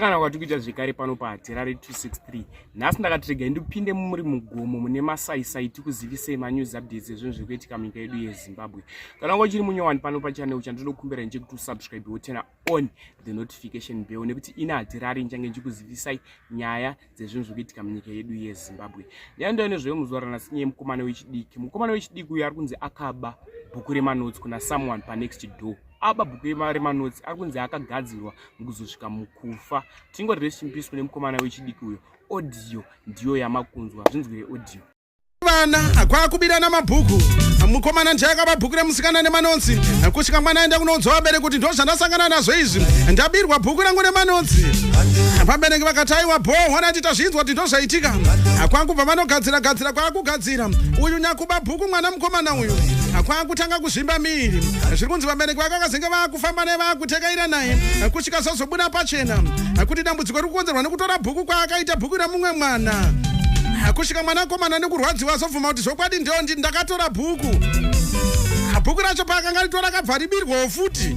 kana kwati kuita zvekare pano paterare 263 nhasi ndakatirega indipinde muri mugomo mune masaisai tikuzivisei manews updates ezvinhu zviri kuitika munyika yedu yezimbabwe kana kwachiri munyowani pano pachanel chandinokumbira nje kuti usubscribe wotena on the notification bell nekuti ini hatirari nchange ndichikuzivisai nyaya dzezvinhu zviri kuitika munyika yedu yezimbabwe nyaya ndo inezvoyo muzuva ranasi nyaya yemukomana wechidiki mukomana wechidiki uyo ari kunzi akaba bhuku remanotsi kuna someone panext door aba bhuku remanotsi ari kunzi akagadzirwa mukuzosvika mukufa tingoti resimpisi kune mukomana wechidiki uyo audio ndiyo yamakunzwa zvinzwire audio vana kwakubirana mabhuku mukomana ndiye akaba bhuku remusikana nemanonzi kusvika mwana aenda kunoudza vabereki kuti ndo zvandasangana nazvo izvi ndabirwa bhuku rangu nemanonzi vabereki vakati aiwa bho hona ti tazvinzwa kuti ndo zvaitika kwakubva vanogadzira gadzira kwakugadzira uyu nyakuba bhuku mwana mukomana uyu kwakutanga kuzvimba miiri zviri kunzi vabereki vake vakazenge vakufamba naye vakutekaira naye chikazozobuda pachena kuti dambudziko riri kukonzerwa nekutora bhuku kwaakaita bhuku remumwe mwana kusvika mwana akomana nekurwadziwa azobvuma kuti zvokwadi ndiyo ndi ndakatora bhuku bhuku racho paakanga ritora akabva ribirwawo futi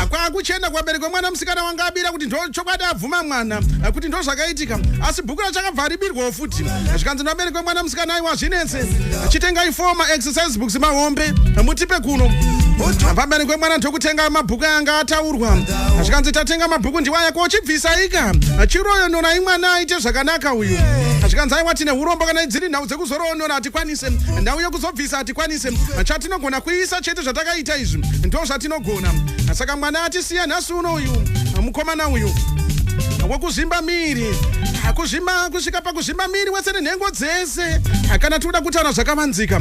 kwakuchenda kuvabereki vemwana musikana wanga abira kuti ndo chokwadi abvuma mwana kuti ndo zvakaitika asi bhuku racho akabva ribirwawo futi zvikanzi ndameri kwemwana musikana aiwa zvinetse chitengai foma exercise books mahombe mutipe kuno pamberi kwemwana ndokutenga mabhuku anga ataurwa zvikanzi tatenga mabhuku ndiwaya kochibvisaika chiroyo nona imwana aite zvakanaka uyu zvikanzi aiwa tine urombo kana dziri nhau dzekuzoroonora hatikwanise nhau yekuzobvisa hatikwanise chatinogona kuisa chete zvatakaita izvi ndo zvatinogona saka mwana atisiya nhasi tuno uyu mukomana uyu wekuzvimba miri akuzvimba kusvika pakuzvimba miri wese nenhengo dzese kana tikuda kutaura zvakavanzika